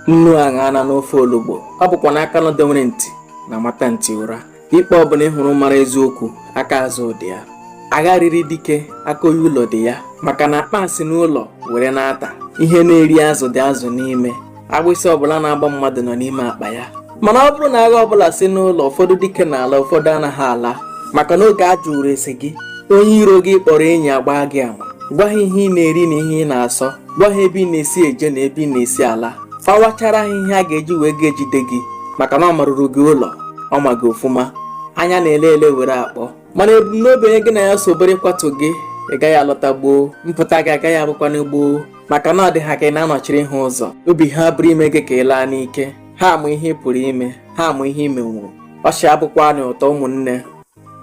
nnu aṅa na n'ofe olugbo ọ bụkwanụ aka nọdewere ntị na-amata ntị ụra ikpe ọbụla ị hụrụ mara eziokwu aka azụ dị ya agha riri dike aka onye ụlọ dị ya maka na akpa asị n'ụlọ were na-ata ihe na-eri azụ dị azụ n'ime agbịsị ọbụla na-agba mmadụ nọ n'ime akpa ya mana ọ bụrụ na agha ọbụla si n'ụlọ ụfọdụ dike na-ala ụfọdụ anaghị ala maka na oge a jụrụ ese gị onye iro gị ị kpọrọ enyi agbaa gị ama gwa ha ihe ị na-eri na ihe ị na-asọ gwa ha ebe ị na-esi eje na ebe ị na-esi ala fawachara ha ihe a ga-eji wee gaa jide gị maka na ọ maruru gị ụlọ ọ ma gị ofụma anya na-ele ele were akpọ mana ebumnobi onye gị na ya so bụrụ ịkwatu gị ị gaghị alọta gboo mpụta gị agaghị abụkwanụ gboo maka na ọ dị ha ka ị na-anọchiri ha ụzọ obi ha abụrụ ime gị ka ị laa n'ike ha amụ ihe ị pụrụ ime ha amụ ihe ị menwuru ọchị abụkwanụ ụtọ ụmụnne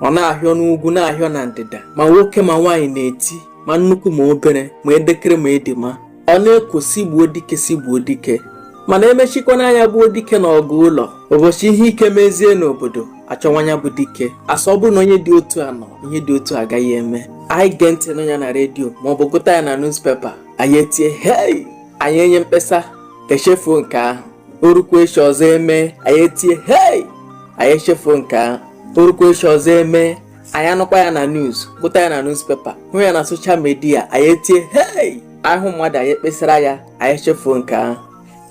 ọ na-ahịọ n'ugwu na-ahịọ na ndịda ma nwoke ma nwaanyị na-eti ma nnukwu ma obere ma edekere ma edima ọ na-ekwo sị gbuo dike sị gbuo dike mana emechikwanụ anya gbuo dike n'ọgụ ụlọ ụbọchị ihe ike mezie n'obodo achọwa onye bụ dike asị ọ bụrụ na onye dị otu a nọ ihe dị otu a agaghị eme anyị gee ntị nụ ya na redio maọbụ gụta ya na newspaper anyị etie hei anyị enye mkpesa echefuo nke ahụ o rukwuo echi ọzọ emee anyị etie hei anyị echefuo nke ahụ o rukwuo echi ọzọ emee anyị anụkwa ya na news gụta ya na newspaper hụ ya na soshal midia anyị etie hei a hụ mmadụ anyị ekpesara ya anyị echefuo nke ahụ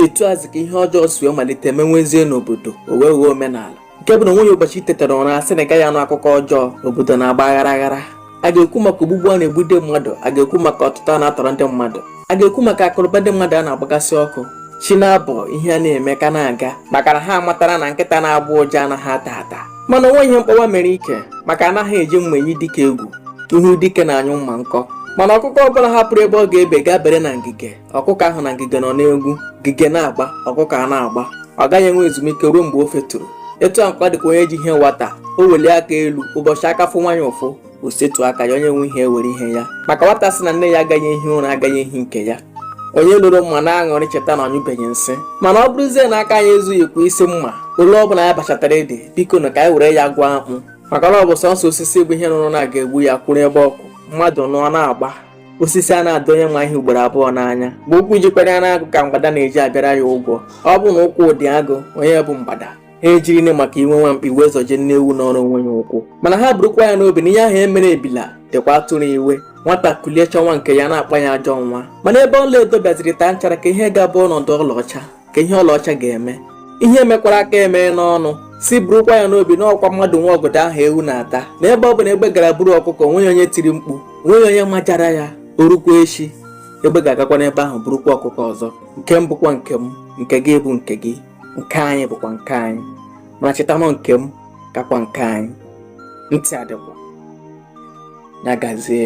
etu azị ka ihe ọjọọ si wee malite mewezie n'obodo o wee ghọọ omenala nke bụ na onweghị ụbọchị i tetara ụra asị na ị gaghị anụ akụkọ ọjọọ obodo na-agba aghara aghara a ga-ekwu maka ogbugbu a na-egbu ndị mmadụ a ga-ekwu maka ọtụtọ a na-atọrọ ndị mmadụ a ga-ekwu maka akụnụba ndị mmadụ a na-agbagasị ọkụ chi na-abọ ihe a na-eme ka na-aga maka na ha matara na nkịta na-agbọ ụja anaghị ata ata mana onweghị ihe mkpọwa mere ike maka anaghị eji mma eyi dike egwu ihu dike na-anyụ mma nkọ mana ọkụkọ ọbụla hapụrụ ebe ọ ga-ebe gaa bere na ngige ọkụkọ ahụ na ngige nọ n'egwu ngige na-agba ọkụkọ a na-agba ọ gaghị enwe ezumike ruo mgbe o feturu etu a ka ọ dịkwa onye ji ihe nwata o welie aka elu ụbọchị aka fụwa ya ụfụ o setuo aka ya onye nwe ihe ewere ihe ya maka nwata sị na nne ya agaghị ehi ụra agaghị ehi nke ya onye loro mma na-aṅụrị cheta na ọ nyụbeghị nsị mana ọ bụrụzie na aka anyị ezughịkwa isi mma ole ọ bụla anyị bachatara ede bikonụ ka anyị were ya gwa akpụ maka na ọ bụ sọsọ osisi bụ ihe nụrụ na a ga-egbu ya kwụrụ ebe ọ kwụ mmadụ nụ ọ na-agba osisi anaghị adụ onye ma ihe ugboro abụọ n'anya bụ ụkwụ jikwaranụ agụ ka mgbada na-eji abịara ya ụgwọ ọ bụrụ na ụkwụ dị agụ onye bụ mgbada ha ejirine maka iwe nwa mkpi wee zọjie nne ewu nọọrọ onwe ya ụkwụ mana ha burukwa ya n'obi na ihe ahụ emere ebila dịkwa atụrụ iwe nwata kulie chọwa nke ya a na-akpọ ya ajọ nwa mana ebe ọla edo bịaziri taa nchara kee ihe ga-abụ ọnọdụ ọlaọcha ka ihe ọlaọcha ga-eme ihe emekwara aka emee n'ọnụ sị burukwa ya n'obi na ọkwa mmadụ nwe ọgọdọ ahụ ewu na-ata na ebe ọ bụla egbe gara buru ọkụkọ nweghị onye tiri mkpu nweghị onye majara ya o rukwa echi egbe ga-agakwa n'ebe ahụ burukwa ọkụkọ ọzọ nke m bụkwa nke m nke gị bụ nke gị nke anyị bụkwa nke anyị mana chetanụ nke m kakwa nke anyị ntị adịkwa ya gazie